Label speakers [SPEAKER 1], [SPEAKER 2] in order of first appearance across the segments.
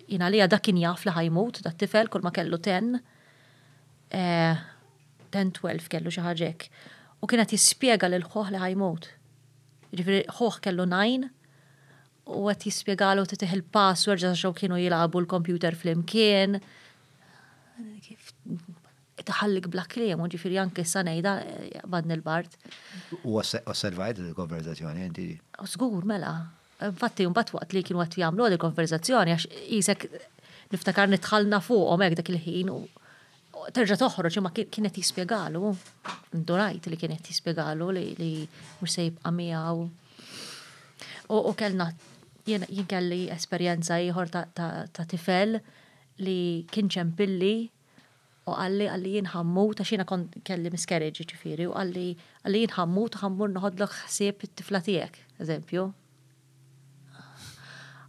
[SPEAKER 1] Jien għalija dak kien jaf li ħajmut dat tifel kull ma kellu ten. Eh, ten twelf kellu xi ħaġek. U kien qed jispjega lil ħoh li ħajmut. Ġifieri ħoh kellu najn u qed jispjegalu titih il-password ġas xew kienu jilagħbu l-kompjuter flimkien. Kif taħallik bla kliem, ġifiri anke sa ngħidha eh, badni l-bart. U
[SPEAKER 2] osservajt il-konverzazzjoni inti? Żgur mela.
[SPEAKER 1] Infatti mbagħad waqt li kienu qed jagħmlu di konverżazzjoni għax qisek niftakar nitħallna fuqhom hekk dak il-ħin u terġa' toħroġ imma kien qed jispjegalu. Ndurajt li kien qed jispjegalu li mhux se jibqa' miegħu. U kellna jien kelli esperjenza ieħor ta' tifel li kien ċempilli U qalli, qalli jien ħammut, għax jiena kont kelli miscarriage jiġifieri, u qalli, qalli jien ħammut u ħammur noħodlok ħsieb it-tifla tiegħek, eżempju.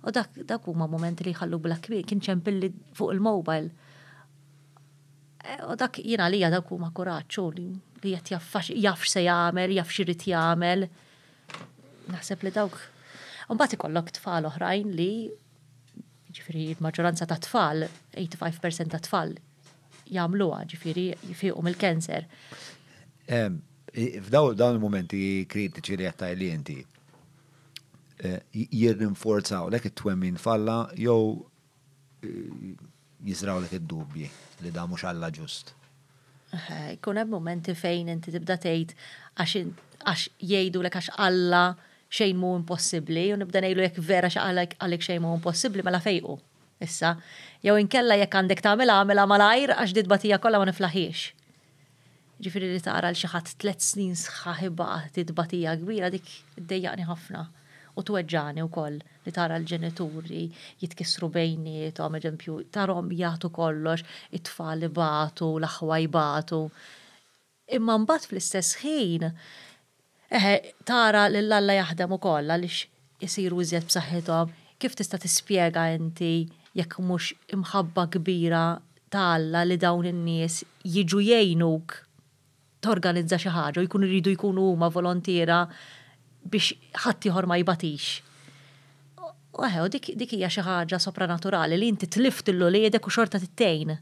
[SPEAKER 1] U dak, dak huma momenti li jħallu bla kbir, kien ċempilli fuq il-mobile. Eh, u dak jiena għalija dak huma kuraċċu li li qed jaffax jafx se jagħmel, jafx irid jagħmel. Naħseb li dawk. Mbagħad ikollok tfal oħrajn li ġifiri il-maġġoranza ta' tfal, 85% ta' tfal jagħmluha, ġifiri jifiqu mill-kanser.
[SPEAKER 2] F'daw dawn il-momenti kritiċi li qed li inti eh, jirrinforzaw lek it-twemmin falla jew eh, Jiżrawlek id-dubji li dan mhux Alla ġust. Jkun
[SPEAKER 1] hemm mumenti fejn inti tibda tgħid għax jgħidulek għax Alla xejn mhu impossibbli u nibda ngħidlu jekk vera xi qalek xejn mhu impossibbli mela fejqu issa. Jew inkella jekk għandek tagħmilha għamilha malajr għax di tbatija kollha ma niflaħhiex. Jiġifieri li tara lil xi ħadd tliet snin sħaħ ibati t tbatija kbira dik iddejjaqni ħafna u tweġġagħni wkoll li tara l-ġenituri jitkissru bejniethom, eżempju, tarahom jagħtu kollox, it-tfal ibatu, l-aħwa jbatu. Imma mbagħad fl-istess ħin Eħe, tara lil Alla jaħdem ukoll għaliex isiru iżjed b'saħħithom. Kif tista' tispjega inti jekk mhux imħabba kbira ta' Alla li dawn in-nies jiġu jgħinuk torganizza xi ħaġa u jkunu jridu jkunu huma volontiera biex ħaddieħor ma jbatix? U eħe, u dik hija xi ħaġa sopranaturali li inti tlift lil uliedek u xorta trid tgħin.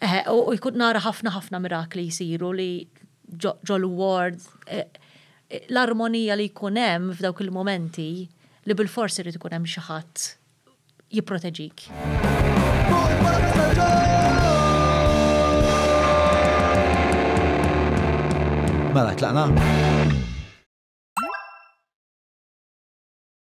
[SPEAKER 1] Eħe, u jkun nara ħafna ħafna mirakli jsiru li ġol-ward, l-armonija li jkun hemm f'dawk il-mumenti li bilfors irid ikun hemm xi ħadd jipproteġik.
[SPEAKER 2] Mela, tlaqna?